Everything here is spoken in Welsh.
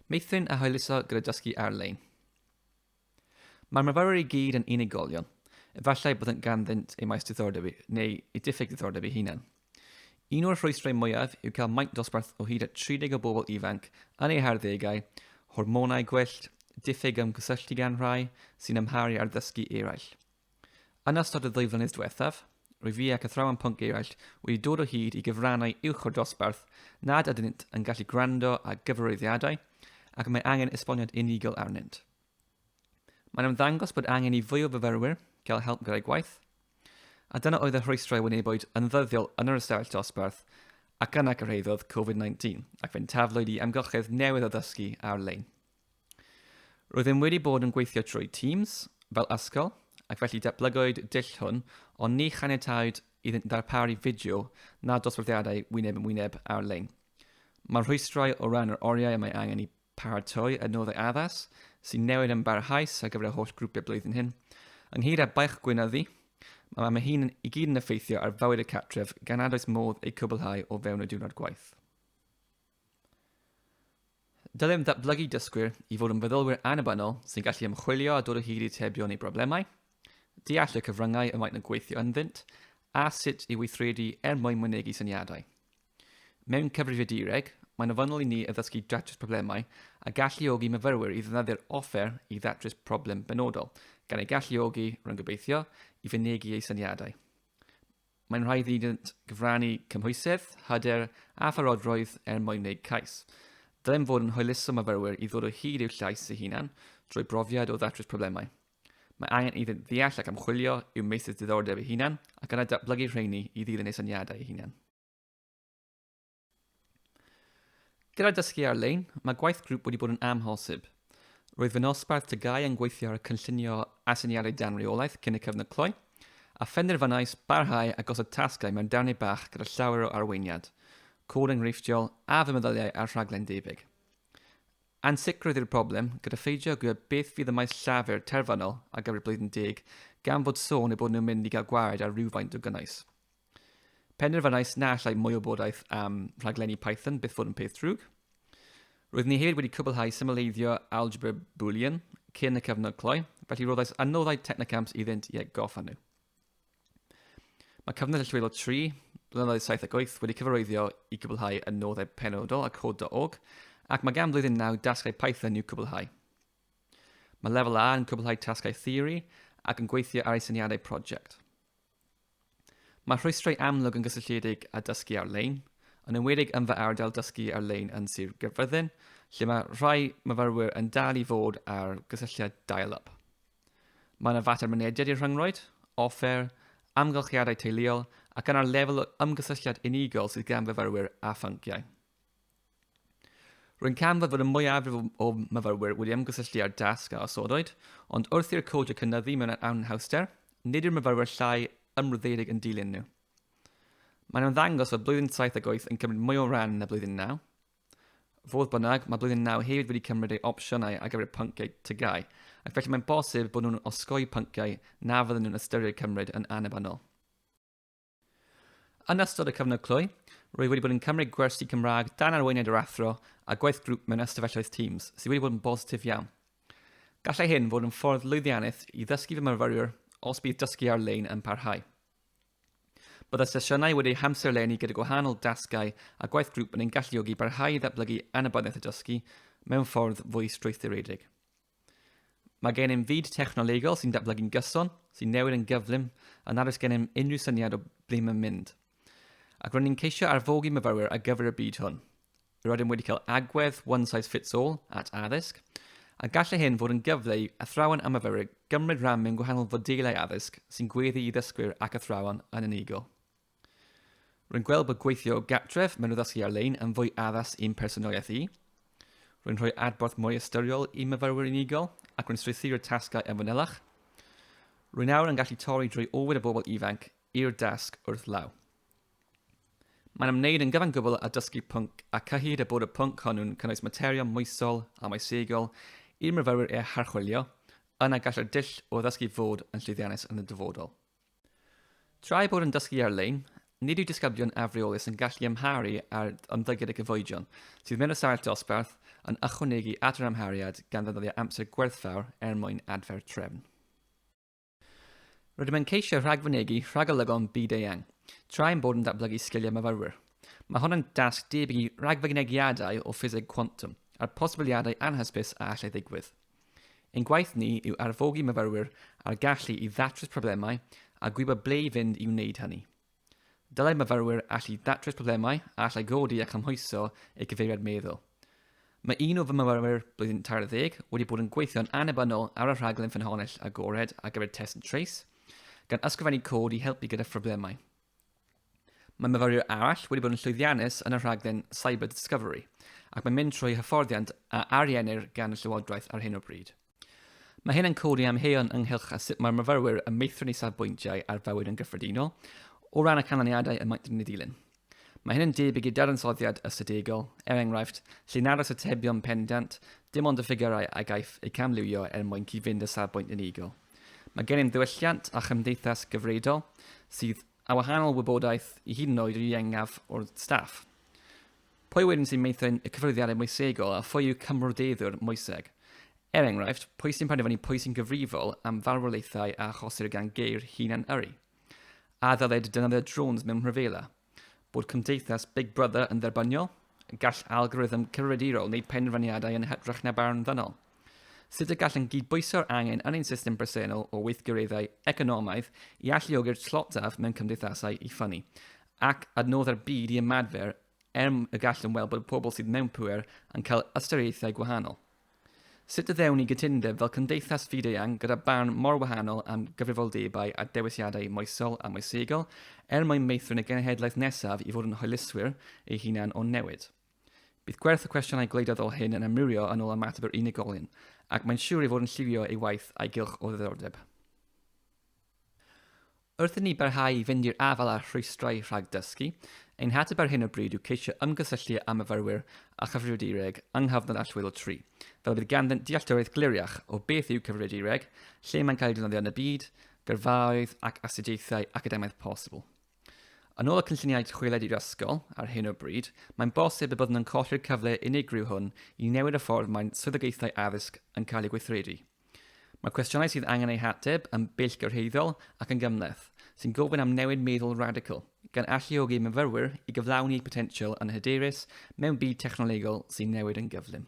Meithrin a hwyluso gyda dysgu ar-lein. Mae'r myfyrwyr i gyd yn unigolion. Efallai bod yn ganddynt ei maes diddordeb neu ei diffyg diddordeb ei hunan. Un o'r rhwystrau mwyaf yw cael maint dosbarth o hyd at 30 o bobl ifanc yn eu harddegau, hormonau gwyllt, diffyg ymgysylltu gan rhai sy'n amharu ar ddysgu eraill. Yn ystod y ddwy flynedd diwethaf, rwy fi ac athrawon pwnc eraill wedi dod o hyd i gyfrannau uwch o'r dosbarth nad ydynt yn gallu gwrando ar gyfarwyddiadau ac y mae angen esboniad unigol arnynt. Mae'n ymddangos bod angen i fwy o fyfyrwyr gael help gyda'u gwaith, a dyna oedd y rhwystrau wynebwyd yn ddyddiol yn yr ystafell dosbarth ac yna cyrhaeddodd Covid-19 ac fe'n taflwyd i amgylchedd newydd o ddysgu ar-lein. Roeddem wedi bod yn gweithio trwy Teams fel ysgol ac felly datblygwyd dull hwn ond ni chaniatawyd iddynt ddarparu fideo na dosbarthiadau wyneb yn wyneb ar-lein. Mae'r rhwystrau o ran yr oriau y mae angen i Paratoi adnoddau addas sy'n newid yn barhaus ar gyfer y holl grwpiau blwyddyn hyn. Ynghyd â baich gwyn a ddu, mae mae hyn i gyd yn effeithio ar fywyd y cartref gan nad oes modd ei cwblhau o fewn y diwrnod gwaith. Dylem ddatblygu dysgwyr i fod yn feddylwyr annibynnol sy'n gallu ymchwilio a dod o hyd i atebion i broblemau, deall y cyfryngau y maent yn gweithio ynddynt, a sut i weithredu er mwyn mynegi syniadau. Mewn cyfrifiadureg, mae'n ofynnol i ni addysgu datrys problemau a galluogi myfyrwyr i ddefnyddio'r offer i ddatrys problem benodol, gan eu galluogi, rwy'n gobeithio, i fynegi eu syniadau. Mae'n rhaid iddynt gyfrannu cymhwysedd, hyder a pharodrwydd er mwyn wneud cais. Dylem fod yn hwyluso myfyrwyr i ddod o hyd i'w llais eu hunan drwy brofiad o ddatrys problemau. Mae angen iddynt ddeall ac ymchwilio i'w meysydd diddordeb eu hunan ac yna datblygu rheini i ddilyn eu syniadau eu hunan. Gyda dysgu ar-lein, mae gwaith grŵp wedi bod yn amhosib. Roedd fy nosbarth tygau yn gweithio ar y cynllunio aseiniadau dan reolaeth cyn y cyfnod cloi, a phenderfynais barhau a gosod tasgau mewn darnau bach gyda llawer o arweiniad, cod enghreifftiol a fy meddyliau ar rhaglen debyg. Ansicrwydd yw'r broblem, gyda pheidio gwybod beth fydd y maes llafur terfynol ar gyfer blwyddyn deg, gan fod sôn eu bod nhw'n mynd i gael gwared ar rywfaint o gynnwys. Penderfynais na allai mwy o wybodaeth am rhaglenni Python byth fod yn peth drwg. Roedd ni hefyd wedi cwblhau symleiddio algebra Boolean cyn y cyfnod cloi, felly roeddais â noddau technocamps iddynt i atgoffa nhw. Mae cyfnod allweddol 3, blynyddoedd 7 ac 8 wedi cyfarwyddio i gwblhau y noddau penodol a cod.org, ac mae gan flwyddyn 9 dasgau Python i'w cwblhau. Mae lefel A yn cwblhau tasgau theori ac yn gweithio ar ei syniadau prosiect. Mae rhwystrau amlwg yn gysylltiedig â dysgu ar-lein, yn enwedig yn fy ardal dysgu ar-lein yn Sir Gaerfyrddin, lle mae rhai myfyrwyr yn dal i fod ar gysylltiad dial-up. Mae yna fater mynediad i'r rhyngrwyd, offer, amgylchiadau teuluol ac yna'r lefel o ymgysylltiad unigol sydd gan fyfyrwyr â phynciau. Rwy'n canfod fod y mwyafrif o myfyrwyr wedi ymgysylltu â'r dasg a osodoid, ond wrth i'r codiau cynyddu mewn anhawster, nid yw'r myfyrwyr llai ymroddedig yn dilyn nhw. Mae'n ymddangos fod blwyddyn 7 ac 8 yn cymryd mwy o ran na blwyddyn 9. Fodd bynnag, mae blwyddyn 9 hefyd wedi cymryd ei opsiynau ar gyfer y pynciau tygau, ac felly mae'n bosib bod nhw'n osgoi pynciau na fydden nhw'n ystyried cymryd yn annibynnol. Yn ystod y cyfnod cloi, rwyf wedi bod yn cymryd gwersi Cymraeg dan arweiniad yr Athro a gwaith grŵp mewn ystafelloedd Teams, sydd wedi bod yn bositif iawn. Gallai hyn fod yn ffordd lwyddiannus i ddysgu fy myfyrwyr os bydd dysgu ar-lein yn parhau. Byddai sesiynau wedi hamserlennu gyda gwahanol dasgau a gwaith grŵp yn ein galluogi i barhau i ddatblygu annibyniaeth y dysgu mewn ffordd fwy strwythuredig. Mae gennym fyd technolegol sy'n datblygu'n gyson, sy'n newid yn gyflym, a nad oes gennym unrhyw syniad o ble mae'n mynd. Ac ro'n ni'n ceisio arfogi myfyrwyr ar gyfer y byd hwn. Rydym wedi cael agwedd one size fits all at addysg, a gallai hyn fod yn gyfle i athrawon a myfyrwyr gymryd rhan mewn gwahanol fodelau addysg sy'n gweddu i ddysgwyr ac athrawon yn unigol. Rwy'n gweld bod gweithio o gartref mewn addysgu ar-lein yn fwy addas i'm personoliaeth i. Rwy'n rhoi adborth mwy ystyriol i myfyrwyr unigol ac rwy'n strwythuro'r tasgau yn fanylach. Rwy'n awr yn gallu torri drwy ofid y bobl ifanc i'r dasg wrth law. Mae'n ymwneud yn gyfan gwbl â dysgu pwnc a cyhyd a bod y pwnc hwnnw'n cynnwys materion moesol a moesegol i'r myfyrwyr eu harchwilio, yna gallai'r dull o ddysgu fod yn llwyddiannus yn y dyfodol. Tra ei bod yn dysgu ar-lein, nid yw disgyblion afreolus yn gallu amharu ar ymddygiad y cyfoedion sydd mewn y sail dosbarth yn ychwanegu at yr amhariad gan ddefnyddio amser gwerthfawr er mwyn adfer trefn. Rydym yn ceisio rhagfynegi rhagolygon byd-eang tra ein bod yn datblygu sgiliau myfyrwyr. Mae hon yn dasg debyg i ragfynegiadau o ffiseg cwantwm a'r posibiliadau anhysbys a allai ddigwydd. Ein gwaith ni yw arfogi myfyrwyr â'r gallu i ddatrys problemau a gwybod ble i fynd i wneud hynny. Dylai myfyrwyr allu datrys problemau a allai godi a chymhwyso eu cyfeiriad meddwl. Mae un o fy myfyrwyr blwyddyn tair ddeg wedi bod yn gweithio'n annibynnol ar y rhaglen ffynhonnell agored ar gyfer Test and Trace, gan ysgrifennu cod i helpu gyda phroblemau. Mae myfyriwr arall wedi bod yn llwyddiannus yn y rhaglen Cyber Discovery ac mae'n mynd trwy hyfforddiant a ariennir gan y Llywodraeth ar hyn o bryd. Mae hyn yn codi amheuon ynghylch a sut mae'r myfyrwyr yn meithrin eu safbwyntiau ar fywyd yn gyffredinol o ran y canlyniadau y maent yn eu dilyn. Mae hyn yn debyg i dadansoddiad ystadegol, er enghraifft, lle nad oes atebion pendant, dim ond y ffigyrau a gaiff eu camliwio er mwyn cyd-fynd â safbwynt unigol. Mae gennym ddiwylliant a chymdeithas gyfredol sydd â wahanol wybodaeth i hyd yn oed yr ieuengaf o'r staff. Pwy wedyn sy'n meithrin y cyffyrddiadau moesegol a phwy yw cymroddeiddwr moeseg? Er enghraifft, pwy sy'n penderfynu pwy sy'n gyfrifol am farwolaethau a achosir gan geir hunan-yrru? A ddylid defnyddio drones mewn rhyfela? Bod cymdeithas Big Brother yn dderbyniol? Gall algorithm cyfrifiadurol wneud penderfyniadau yn hytrach na barn ddynol. Sut y gallwn gydbwyso'r angen yn ein system bresennol o weithgareddau economaidd i alluogi'r tlotaf mewn cymdeithasau i ffynnu, ac adnoddau'r byd i ymadfer er y gallwn weld bod pobl sydd mewn pŵer yn cael ystyriaethau gwahanol. Sut y ddewn ni gytundeb fel cymdeithas fyd-eang gyda barn mor wahanol am gyfrifoldebau a dewisiadau moesol a moesegol er mwyn meithrin y genhedlaeth nesaf i fod yn hoelyswyr ei hunan o'n newid? Bydd gwerth y cwestiynau gwleidyddol hyn yn amrywio yn ôl ymateb yr unigolyn, ac mae'n siwr ei fod yn lliwio ei waith a'i gylch o ddiddordeb. Wrth i ni barhau i fynd i'r afael â'r rhwystrau rhag dysgu, ein hateb ar hyn o bryd yw ceisio ymgysylltu â myfyrwyr a chyfrifiadureg yng nghyfnod allweddol tri, fel y bydd ganddynt dealltwriaeth gliriach o beth yw cyfrifiadureg, lle mae'n cael ei defnyddio yn y byd, gyrfaoedd ac astudiaethau academaidd posibl. Yn ôl y cynlluniau chwiled i'r ysgol, ar hyn o bryd, mae'n bosib y byddwn yn colli'r cyfle unigryw hwn i newid y ffordd mae'n swyddogaethau addysg yn cael eu gweithredu. Mae cwestiynau sydd angen eu hateb yn bellgyrhaeddol ac yn gymhleth, sy'n gofyn am newid meddwl radical, gan alluogi myfyrwyr i gyflawni eu potensial yn hyderus mewn byd technolegol sy'n newid yn gyflym.